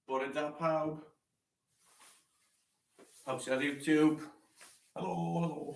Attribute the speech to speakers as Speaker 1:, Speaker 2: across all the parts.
Speaker 1: Bore da pawb. Pawb sy'n ar YouTube. Helo, helo.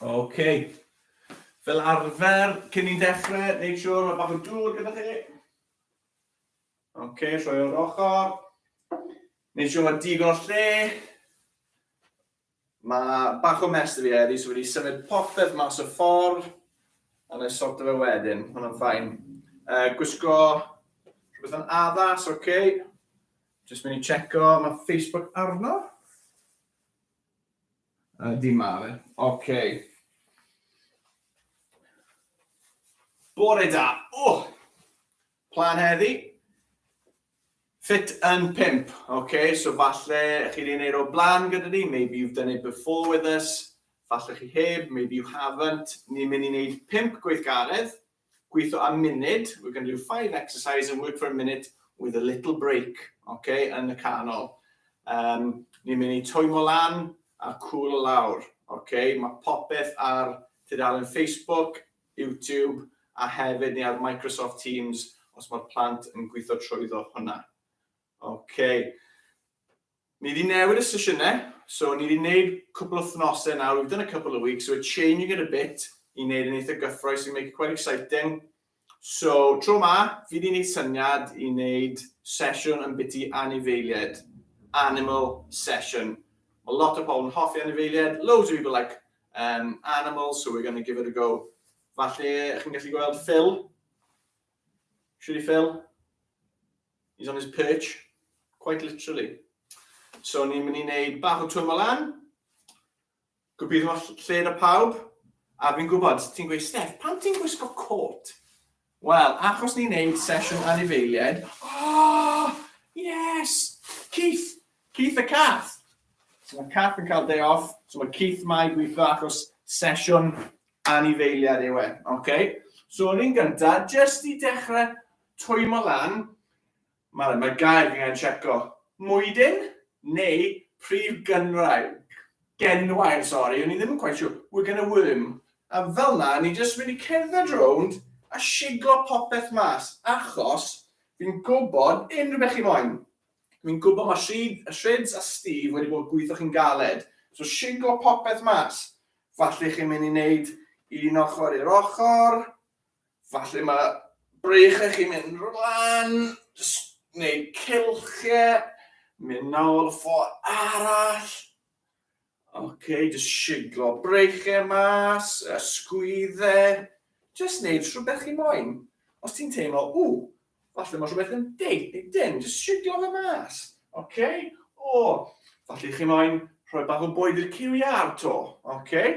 Speaker 1: Ok. Fel arfer, cyn ni'n dechrau, neud siwr mae bach o dŵr gyda chi. Ok, rhoi o'r ochr. Neud siwr mae digon o lle. Mae bach o mess da fi heddi so fi wedi symud popeth mas y ffordd a wna i sorto fe wedyn, ma hwnna'n fine. Uh, gwisgo rhywbeth yn addas, oce. Okay. Just mynd i checo, mae Facebook arno. Uh, di ma fe, oce. Okay. Bore da, oh! Plan heddi, Fit yn pump, ok, so falle chi wedi gwneud o blaen gyda ni, maybe you've done it before with us, falle chi heb, maybe you haven't, ni'n mynd i wneud pump gweithgaredd, gweithio am munud, we're going to do five exercises and work for a minute with a little break, ok, yn y canol. Um, ni'n mynd i twymo lan a cwlo lawr, ok, mae popeth ar tudalen Facebook, YouTube a hefyd ni ar Microsoft Teams os mae'r plant yn gweithio trwyddo hwnna. Ok. Ni wedi newid y sesiynau, so ni wedi gwneud cwpl o thnosau nawr, we've done a couple of weeks, so we're changing it a bit i wneud yn eitha gyffroes, i make it quite exciting. So, tro ma, fi wedi gwneud syniad i wneud sesiwn yn biti anifeiliaid, animal session. Mae lot o pobl yn hoffi anifeiliaid, loads of people like Yn anaml, so we're gonna give it a go. Falle chi'n gallu gweld Phil? Should we Phil? He's on his perch, quite literally. So ni'n mynd i wneud bach o twym o lan. Gobeithio lled o pawb. A fi'n gwybod, ti'n gweud, Steph, pam ti'n gwisgo cot? Wel, achos ni'n neud sesiwn anifeiliaid, oh! Yes! Keith! Keith y cath! So mae cath yn cael day off, so mae Keith ma i gweithio achos sesiwn anifeiliad yw e, okay? So yr un gynta, jyst i dechrau twymo lan, Mae yna gair fi angen tseco. Mwydyn? Neu prif gynwraig? Genwair, sori, o'n i ddim yn cweit siwr. We're gonna worm. A fel 'na, ni jyst mynd i cerdded rownd a shiglo popeth mas, achos fi'n gwybod unrhyw beth chi moyn. Fi'n gwybod mae Rhyd, Rhyds a Steve wedi bod yn gweithio chi'n galed, so shiglo popeth mas. Falle chi'n mynd i wneud un ochr i'r ochr, Falle mae breichiau chi'n mynd rwan, neu cilchiau, mynd nawr ffo arall. Oce, okay, jyst siglo breichiau mas, a sgwyddau. Jyst wneud rhywbeth chi moyn. Os ti'n teimlo, ww, falle mae rhywbeth yn deud neu dim, jyst siglo fe mas. Oce, okay? o, falle chi moyn rhoi bach o bwyd i'r ciwiau ar to. Oce, okay?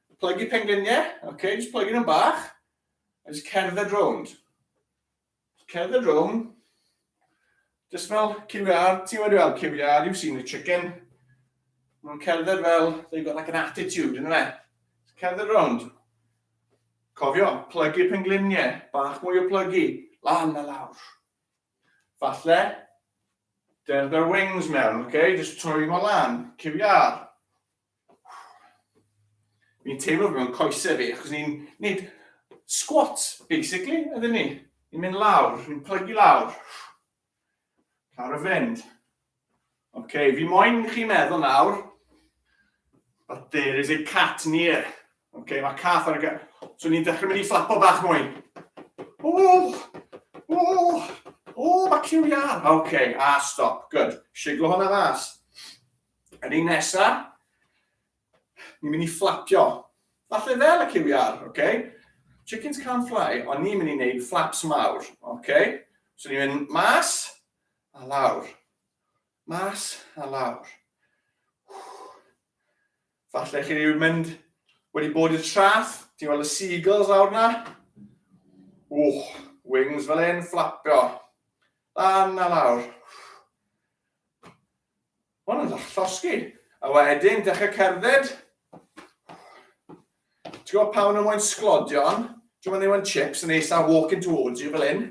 Speaker 1: Plygu pengliniau, oce, okay, jyst plygu nhw'n bach, a jyst cerdded rownd. Cerdded rownd, jyst fel QR, ti'n wedi weld QR, you've seen the chicken. Mae'n cerdded fel, they've got like an attitude, yn fe? Cerdded rownd. Cofio, plygu pengliniau, bach mwy o plygu, lan a lawr. Falle, there's their wings mewn, okay? Just troi hwnna lan, cyfiar. Ni'n teimlo mewn coesau fi, achos ni'n neud squat, basically, ydyn ni. Ni'n mynd lawr, ni'n plygu lawr. Lawr y fynd. Oce, okay, fi moyn chi meddwl nawr, but there is a cat near. Oce, okay, mae cath ar y gael. So ni'n dechrau mynd i fflapo bach mwy. O, o, o, mae ciw iar. Oce, okay, a stop, good. Siglo hwnna fas. Yr un nesa, ni'n mynd i fflapio. Falle fel y cywiar, oce? Okay? Chickens can't fly, ond ni'n mynd i wneud flaps mawr, oce? Okay? So ni'n mynd mas a lawr. Mas a lawr. Falle chi wedi mynd, wedi bod i'r traff, ti'n gweld y seagulls lawr na? Wch, wings fel un, fflapio. Lan a lawr. Hwn yn dach llosgi. A wedyn, dechrau cerdded. Ti'n gwybod pa nhw moyn sglodion? Ti'n gwybod nhw'n chips yn eisa walking towards you fel hyn?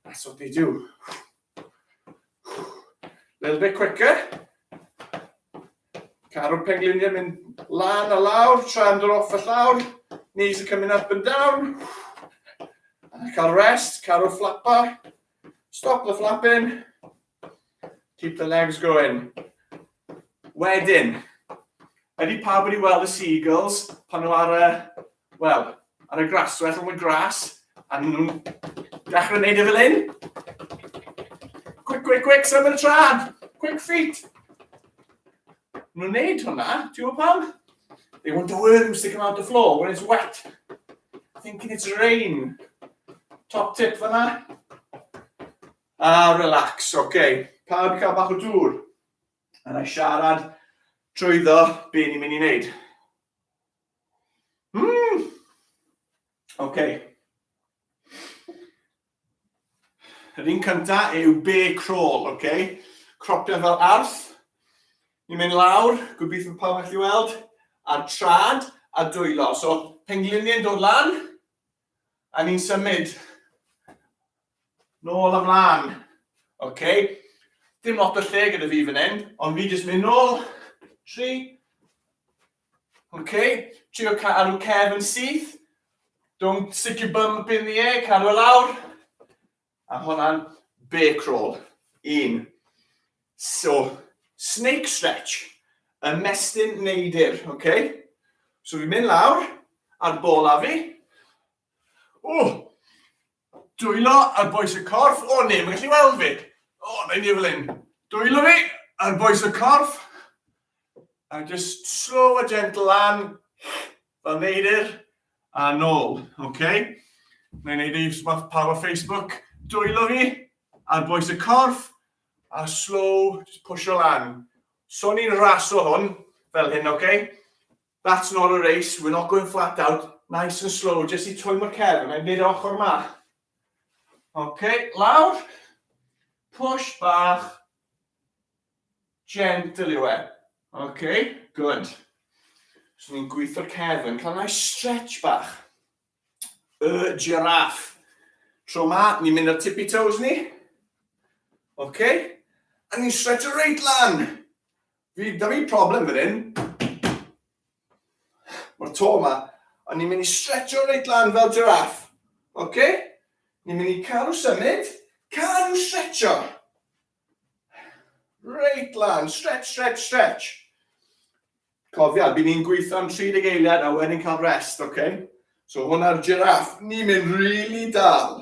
Speaker 1: That's what they do. Little bit quicker. Carw'r pengliniau mynd lan a lawr, trend yr off y llawr. Knees are coming up and down. Cael rest, carw'r flapper. Stop the flapping. Keep the legs going. Wedyn, ydy pawb wedi weld y seagulls pan nhw ar y, wel, ar y graswell o'n y gras, a nhw'n dechrau wneud e fel hyn? Quick, quick, quick, symud y trad! Quick feet! Maen nhw'n neud hwnna, ti'n gwybod pam? They want the worms to come out the floor when it's wet. Thinking it's rain. Top tip fanna. Ah, relax, oce. Okay. Pawb i cael bach o dŵr. A na i siarad trwyddo be ni'n mynd i wneud. Mm. Oce. Okay. Yr un cynta yw bear crawl, ok? Cropio fel arth. Ni'n mynd lawr, gobeithio pawb allu weld, a'r trad a dwylo. So, pengliniau'n dod lan, a ni'n symud. Nôl am lan. Ok? Dim lot o lle gyda fi fan hyn, ond fi jyst mynd nôl. Tri. Ok, trio cadw cefn yn syth. Don't stick your bum up in the air, cadw e lawr. A hwnna'n bear crawl. Un. So, snake stretch. Ymestyn neidr, ok? So fi'n mynd lawr, a'r bola fi. O! Dwylo ar bwys y corff. O ne, mae'n gallu weld fi. O, na i ni fel hyn. Dwylo fi ar bwys y corff. A just slow a gentle lan. Fel neidr. A nôl. Okay. Na i wneud ei smath pawb o Facebook. Dwylo fi ar bwys y corff. A slow, just push o lan. So ni'n raso hwn. Fel hyn, okay? That's not a race, we're not going flat out, nice and slow, jyst i twymo cefn, a mae'n mynd ochr ma. Ok, lawr, push bach, gentle yw e. Ok, good. So ni'n gweithio'r cefn, cael nice stretch bach. Y giraffe. Tro ma, ni'n mynd ar tippy toes ni. Ok, a ni'n stretch reit lan. Fi, da fi problem fan hyn. Mae'r to yma. A ni'n mynd i stretcho reit lan fel giraff. OK? Ni'n mynd i cadw symud. Cadw stretcho. Reit lan. Stretch, stretch, stretch. Cofia, bydd ni'n gweithio am 30 eiliad a wedyn cael rest, OK? So hwnna'r giraff. Ni'n mynd really dal.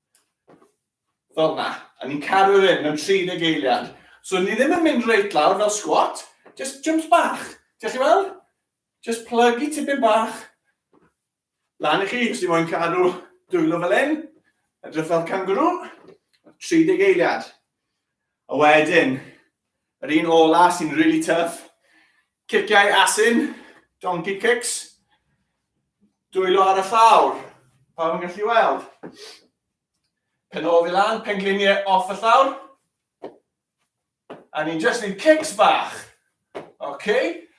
Speaker 1: Fel na. A ni'n caru yr hyn mewn 30 eiliad. So ni ddim yn mynd reit lawr fel squat, just jumps bach. Diolch chi weld? Just plygu tipyn bach. Lan i chi, os ni moyn cadw dwylo fel hyn. Edrych fel kangaroo. 30 eiliad. A wedyn, yr un ola sy'n really tough, Ciciau asyn, donkey kicks. Dwylo ar y llawr. Pawb yn gallu weld. Penol fi lan, pengliniau off y llawr. A ni'n just neud kicks bach. Okay?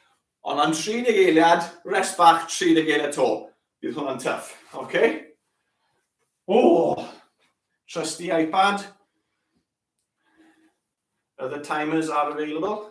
Speaker 1: Ond am 30 eiliad, rest bach 30 eiliad to. Bydd hwnna'n tuff. Okay? Oh, trusty iPad. Other timers are available.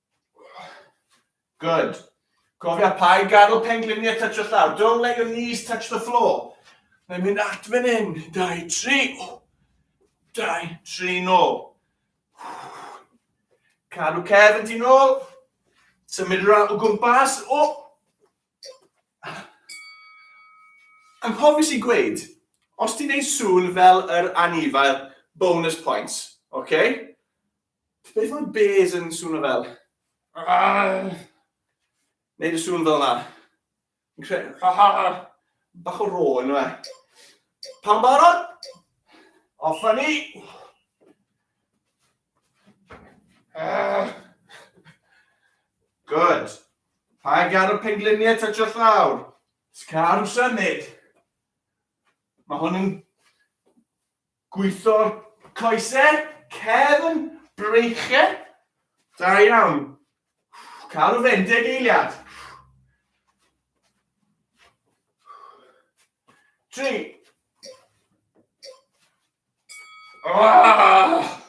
Speaker 1: Good. Cofia, paid gadw pengliniau touch o llaw. Don't let your knees touch the floor. Mae'n mynd at fan hyn. Dau, tri. Dau, tri, nôl. Cadw cef yn dyn ôl. Symud rhan o gwmpas. O! Anghofus i gweud, os ti'n neud sŵn fel yr anifail, bonus points. Okay? Beth mae bears yn swnio fel? Neud y sŵn fel yna. Fi'n credu... Bach o ro, ynddo fe? Pan barod? Off a ni! Good. Pa gan o pengliniau touch o llawr? Scar o symud. Mae hwn yn Gweithio'r coesau, cefn, breichiau. Da iawn. Cadw fe'n deg eiliad. Tri. Oh,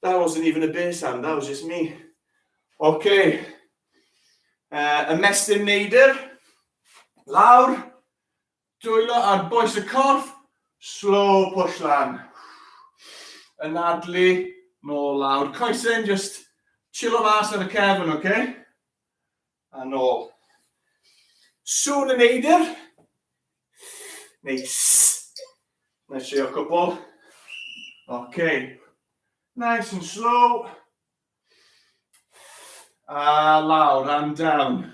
Speaker 1: that wasn't even a beer sound, that was just me. Okay. Uh, ymestyn neidr, lawr, Dwylo ar bwys y corff, slow push lan. Anadlu, nôl lawr. Coesyn, just chillo mas ar y cefn, oce? Okay? A nôl. Sŵn yn eidir. Neu sss. Neu trio cwbl. Oce. Okay. Nice and slow. A lawr and down.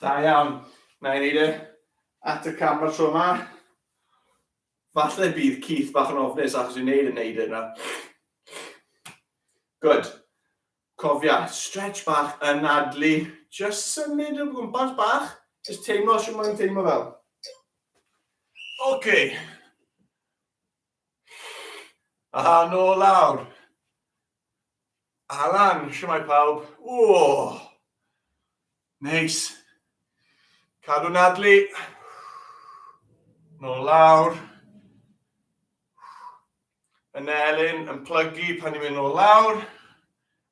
Speaker 1: Da iawn. Na i wneud e at y cam o'r tro yma. Falle bydd Keith bach yn ofnus achos i'n neud yn neud yna. Good. Cofia, stretch bach yn adlu. Just symud o gwmpas bach. Just teimlo sy'n mwyn teimlo fel. OK. A nôl lawr. Alan, siwmai pawb. O! Neis. Cadw nadlu. Nôl lawr. Yn elyn, yn plygu pan ni'n mynd nôl lawr.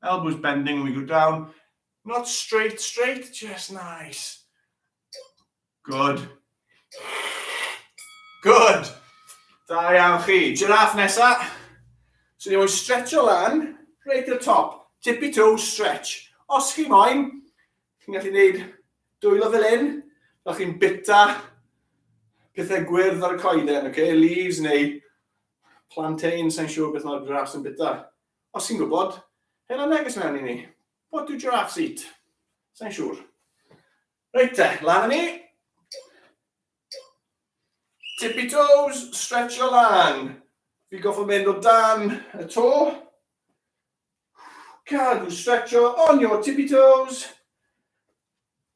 Speaker 1: Elbows bending when we go down. Not straight, straight, just nice. Good. Good. Da iawn chi. Giraffe nesa. So ni moyn stretcho lan, right to the top. Tippy toe stretch. Os chi moyn, chi'n gallu gwneud dwylo fel un, fel chi'n bita pethau gwyrdd ar y coeden, okay? leaves neu plantain, sa'n siŵr beth mae'r grass yn bita. Os chi'n gwybod, hela neges mewn i ni. What do giraffes eat? Sa'n siŵr. Reit te, lan â ni. Tippy toes, stretch o lan. Fi goffa mynd o dan y to. Cadw stretch o on your tippy toes.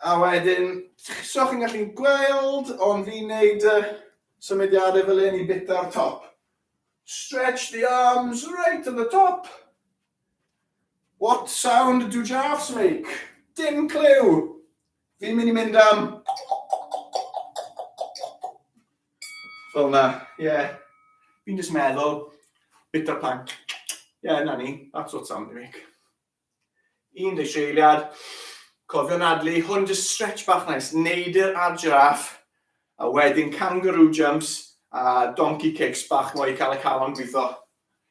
Speaker 1: A wedyn, so chi'n gallu gweld, ond fi'n neud y symudiadau fel hyn i bita'r top. Stretch the arms right to the top. What sound do giraffes make? Dim clyw! Fi'n mynd i mynd am... Fel na, ie. Yeah. Fi'n jyst meddwl, bita'r plank. Ie, yeah, na ni, that's what sound they make. Un deg tri eiliad. Cofio nadlu, hwn just stretch bach nice. Neud yr ab giraffe, a wedyn kangaroo jumps a donkey kicks bach mwy i cael y calon gwitho.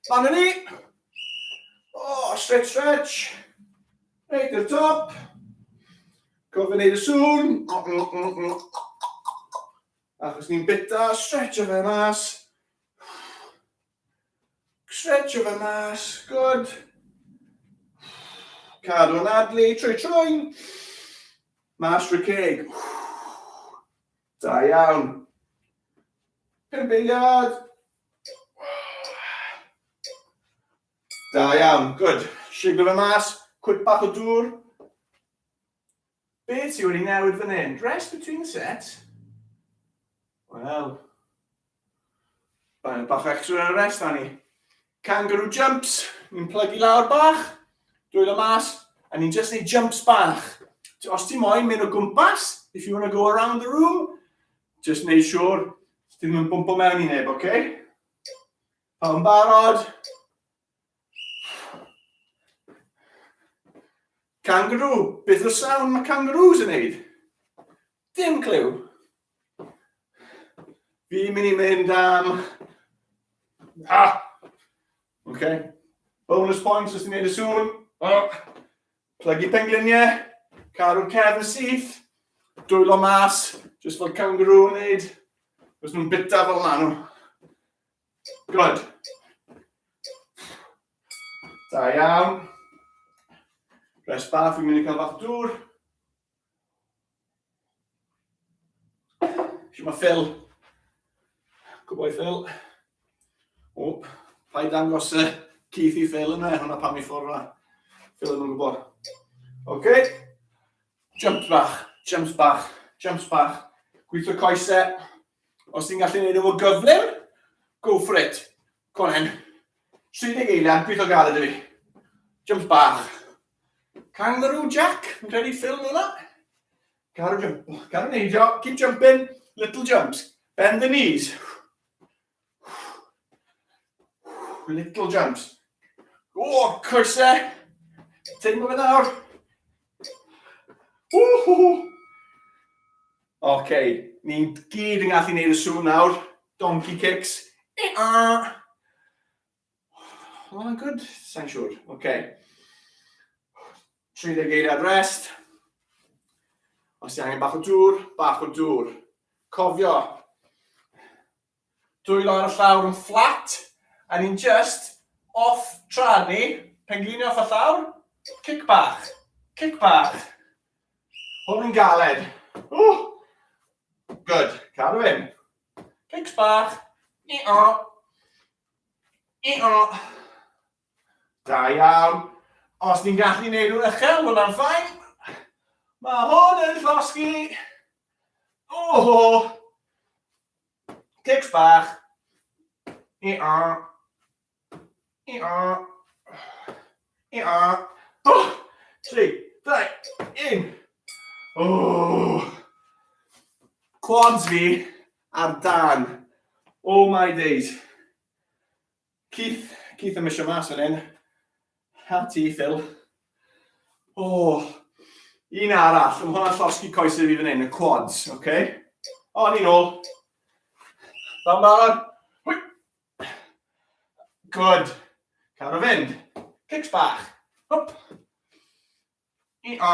Speaker 1: Lan yn ni! Oh, stretch, stretch. Neud yr top. Cofio neud y sŵn. Achos ni'n bita, stretch o fe mas. Stretch of a mas, good. Cadw yn adlu, trwy trwy'n. Mas trwy ceg. Da iawn. Pump eiliad. Da iawn, good. Siglo fe mas, cwyd bach o dŵr. Be ti wedi newid fan hyn? Dress between the set? Wel... Mae'n bach extra ar y rest, Annie. Kangaroo jumps, ni'n plygu lawr bach, dwylo mas, a ni'n just neud jumps bach. Os ti moyn mynd o gwmpas, if you want to go around the room, just neud siwr, ti ddim yn bwmpo mewn i neb, oce? Okay? Pawb yn barod? Kangaroo. Beth yw'r sound mae kangaroos yn neud? Dim clyw. Fi'n mynd i mynd am... Ah! OK. Bonus points os ti'n neud y sŵn. Oh. Plygu pengliniau. Caru'r cefn syth. Dwylo mas. Just fel kangaroo yn neud. Os nhw'n bita fel maen nhw. Good. Da iawn. Rest bach, fi'n mynd i cael bach dŵr. Siw mae Phil. Good boy Phil. O, pa i dangos y Keith i Phil yna, hwnna pam i ffordd yna. Phil yn gwybod. OK. Jumps bach, jumps bach, jumps bach. Gweithio coesau. Os ti'n gallu gwneud nhw'n gyflym, go for it. Co on then. 30 eiliad, pwytho galed i fi. Jump bach. Kangaroo Jack, yn credu ffilm hwnna? Caru jump, caru neidio, keep jumping, little jumps. Bend the knees. Little jumps. O, oh, cyrse! Teimlo fe nawr. Oce, okay. ni'n gyd yn gallu gwneud y sŵn nawr. Donkey kicks. Oedd hwnna'n good? Sa'n siŵr. Oce. Okay. 30 geiriad rest. Os ti angen bach o dŵr, bach o dŵr. Cofio, Dwylo ar y llawr yn fflat, a ni'n jyst off tra'n ni, pengliniau off y llawr, cic bach, cic bach. Hwn yn galed. Ww! Good, cadw hyn. Cics bach. I-o. I-o. Da iawn. Os ni'n gallu neud nhw'n uchel, wel am ffain. Mae hwn yn llosgi. Oho! Cics bach. I-a. I-a. I-a. O! Tri, dau, un. O! Quads fi ar dan. Oh my days. Keith, Keith yn mysio mas fan hyn. Ha ti, Phil. O, oh, un arall. Mae hwnna'n llosgi coesau fi fan hyn, y quads, oce? Okay? O, ni'n ôl. Da'n barod. Good. Cael o fynd. Cics bach. Hop. I o.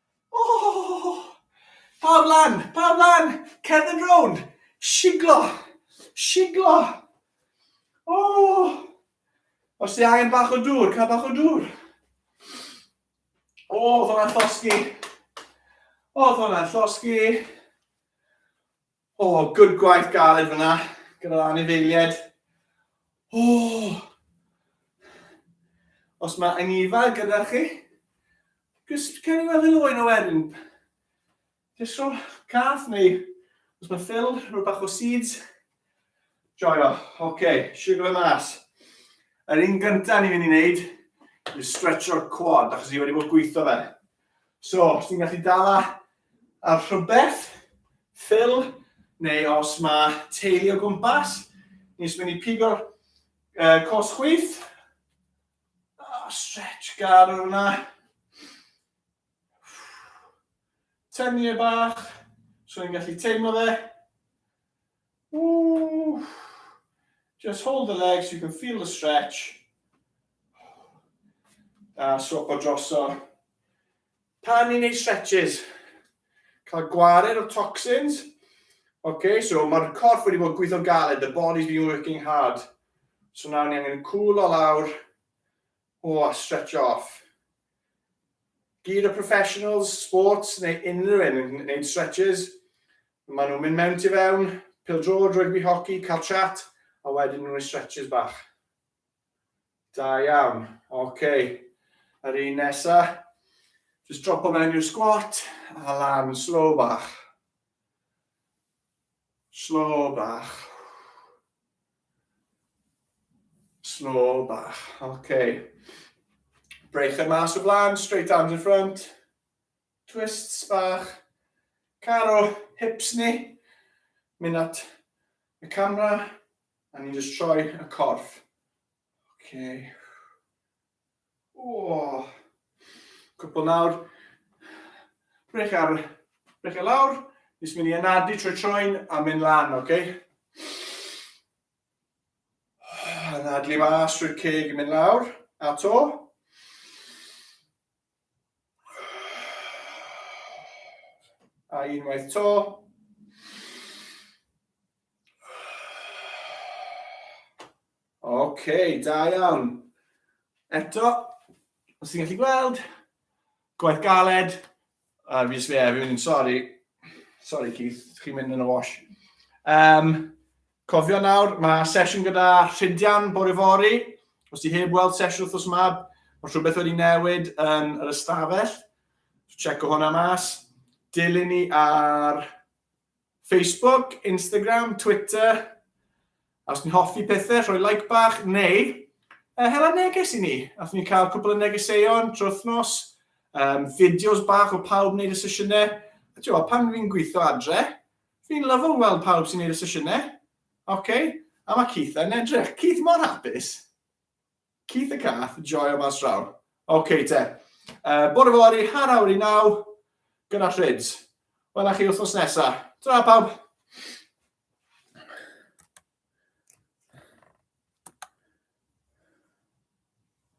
Speaker 1: Ohh! Pawb lan! Pawb lan! Cerdd yn rownd! Shiglo! Shiglo! Ohh! Os ti angen bach o dŵr, cael bach o dŵr. O, oedd hwnna'n llosgi. Oedd hwnna'n llosgi. O, oh, good gwaith galed fyna, gyda'r anifeiliaid. O! Oh. Os mae angifa gyda chi, just cael ei weld yn oen o wedyn. Just rhoi cath neu os mae ffil, rhoi bach o seeds. Joio, oce, okay, siwgr y mas. Yr un gyntaf ni'n mynd i wneud yw stretch o'r quad, achos ni wedi bod gweithio fe. So, os ti'n gallu dala ar rhywbeth, ffil, neu os mae teulu o gwmpas, ni'n mynd i pigo'r uh, cos chwith. Oh, stretch gar o'r yna. Tynnu e bach, so ni'n gallu teimlo fe. Ooh. Just hold the legs, you can feel the stretch. A sopo droso. Pan ni'n neud stretches, cael gwared o toxins. Okay, so mae'r corff wedi bod gweithio'n galed, the body's been working hard. So nawr ni angen cwlo lawr, o, oh, a stretch off. Gyd o professionals, sports neu unrhyw un yn gwneud stretches. Maen nhw'n mynd mewn ti fewn, pildrod, rygbi, hoci, cael chat, a wedyn nhw'n ei stretches bach. Da iawn. Oce. Okay. Yr un nesa. Just dropo mewn i'r squat a lan slow bach. Slow bach. Slow bach, ok. Breichau mas o blaen, straight arms in front. Twists bach. Caro hips ni. Mynd at y camera. A ni'n just troi y corff. Ok. O! Cwpl nawr. Brech ar, brech ar lawr. Jyst mynd i anadu trwy troen a mynd lan, oce? Okay? Anadlu mas trwy'r ceg yn mynd lawr, a to. A unwaith to. OK, da iawn. Eto, os ti'n gallu gweld, gwaith galed. A fi jyst fe, fi'n mynd, sori. Sori Keith, chi'n mynd yn y wash. Um, Cofio nawr, mae sesiwn gyda Rhydian bore fory. Os ti heb weld sesiwn wrthos yma, mae rhywbeth wedi newid yn yr ystafell. Checo hwnna mas. Dilyn ni ar Facebook, Instagram, Twitter. A os ti'n hoffi pethau, rhoi like bach, neu uh, hela neges i ni. Ath ni'n cael cwpl o negeseuon trwy wythnos, um, fideos bach o pawb wneud y sesiynau. A ti'n pan fi'n gweithio adre, Fi'n lyfo weld pawb sy'n neud y sesiynau. Oce, a mae Keith yn edrych. Keith mor hapus. Keith y cath, joio mas draw. Oce te. Uh, bore fori, har awr i naw, gyda trids. Wel, a chi wythnos nesa. Tra pawb.